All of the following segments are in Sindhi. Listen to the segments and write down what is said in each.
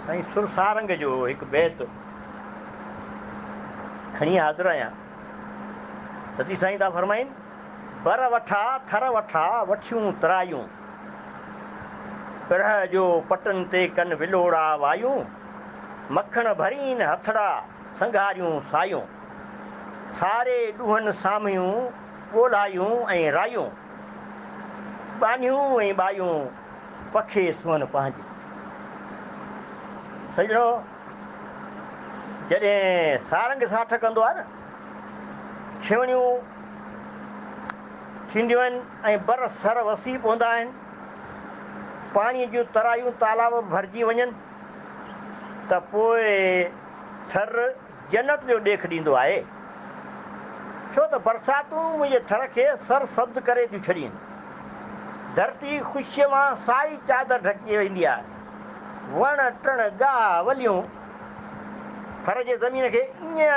سائين سر سارنگ جو هڪ بيت کڻي حاضر آهيان سچي سائين ٿا فرمائين بر وٺا ٿر وٺا وٺيون ترايون پرهه جو پٽن تي ڪن ولوڙا وايون مکڻ ڀرين هٿڙا سنگهاريون سايون ساري ڏوهن سامهيون ڳولهايون ۽ رايون، ٻانهيون ۽ ٻايون پکي سونهن پنهنجي. سڄڻو! جڏهن سارنگ ساٺ ڪندو آهي نه، کيوڻيون ٿينديون آهن ۽ بر سر وسي پوندا آهن، پاڻيء جون ترايون تالاب ڀرجي وڃن ته پوء ٿر، جنت جو ڏيک ڏيندو آهي، ڇو ته برساتون منهنجي ٿر کي سر سبز ڪري ٿيون ڇڏين. ڌرتي خوشيء مان سائي چادر ڍڪي ويندي آهي. وڻ ٽڻ ڳاهه وليون ٿر جي زمين کي ائين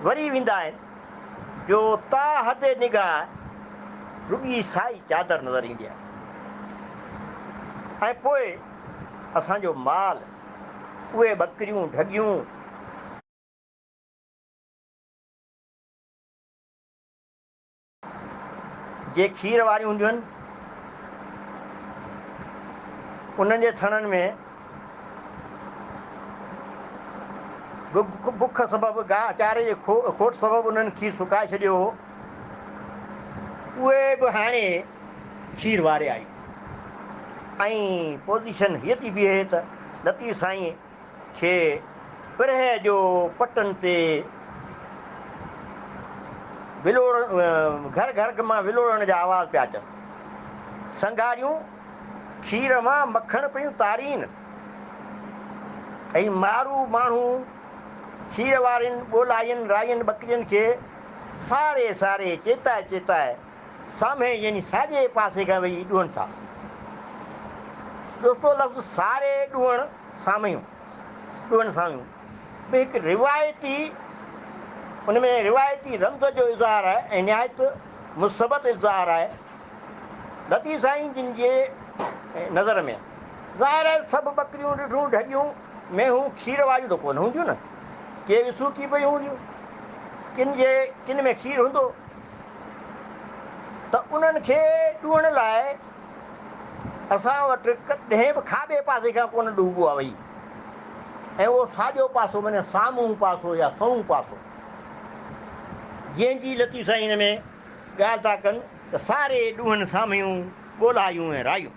وري ويندا آهن جو تا حد نگاهه رڳي سائي چادر نظر ايندي آهي ۽ پوء اسان جو مال، اهي ٻڪريون ڍڳيون. جي کير واريون هونديون آهن، انهن جي ٿڻن ۾ به بک سبب گاهه چاري جي کوٽ سبب انهن کير سڪائي ڇڏيو هو. اهي به هاڻي. کير واري آئي ۽ پوزيشن هيء ٿي بيهي ته لطيف سائينء کي پرهه جو پٽن تي گهر گهر مان ولوڙڻ جا آواز پيا اچن. سنگهاريون کير مان مکڻ پيون تارين ۽ مارو ماڻهو کير وارين ٻولائين رائين ٻڪرين کي ساري ساري چيتائي چيتائي سامهين يعني ساڄي پاسي کان ويهي ڏوهن ٿا. دوستو لفظ ساري ڏوهن سامهيون، ڏوهن سامهيون، به هڪ روايتي ان ۾ روايتي رمز جو اظهار آهي ۽ نهايت مثبت اظهار آهي. لطيف سائين جن جي نظر ۾. ظاهر آهي سڀ ٻڪريون ڏٺون ڍڳيون مينهون کير واريون ته ڪونه هونديون نه. ڪي وسوڪي پيون هونديون. ڪن جي ڪن ۾ کير هوندو ته انهن کي ڏوهڻ لاء اسان وٽ ڪڏهن به کاٻي پاسي کان ڪونه ڏهبو آهي وئي ۽ اهو ساڄو پاسو معني سامهون پاسو يا سنئون پاسو جنهن جي لطيف سائين هن ۾ ڳالهه ٿا ڪن ته ساري ڏوهن سامهيون ڳولهايون ۽ رايون.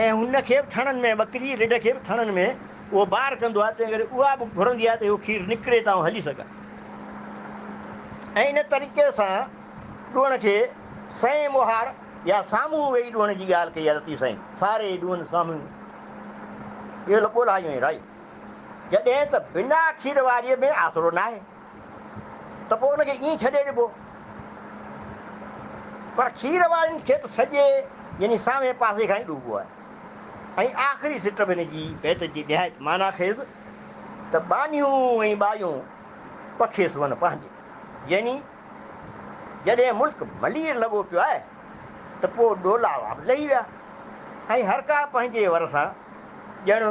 ۽ هن کي به ٿڻن ۾ ٻڪري رڍ کي به ٿڻن ۾ اهو بار ڪندو آهي تنهن ڪري اها به گهرندي آهي ته اهو کير نڪري ته آئون هلي سگهان ۽ ان طريقي سان ڏوهڻ کي سئين موهاڙ يا سامهون ويهي ڏوهڻ جي ڳالهه ڪئي آهي لطيف سائين ساري ڏوهن سامهون اهو لپو لاهيون ۽ راهيون جڏهن ته بنا کير واريء ۾ آسرو ناهي. ته پوء ان کي ائين ڇڏي ڏبو. پر کير وارين کي ته سڄي يعني سامهين پاسي کان ئي ڏوبو آهي. ۽ آخري سٽ به هن جي بيت جي نهايت معنيٰ خيز ته ٻانهيون ۽ ٻايون پکي سون پنهنجي يعني جڏهن ملڪ ملير لڳو پيو آهي ته پوء ڏولاوا به لهي ويا ۽ هرڪا پنهنجي ور سان ڄڻ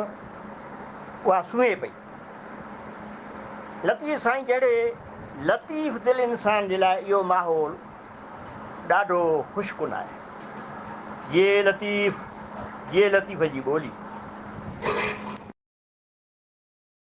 اها سونهي پئي. لطيف سائين جهڙي لطيف دل انسان جي لاء اهو ماحول ڏاڍو خوشڪن آهي. جيئي لطيف جيئي لطيف جي ٻولي.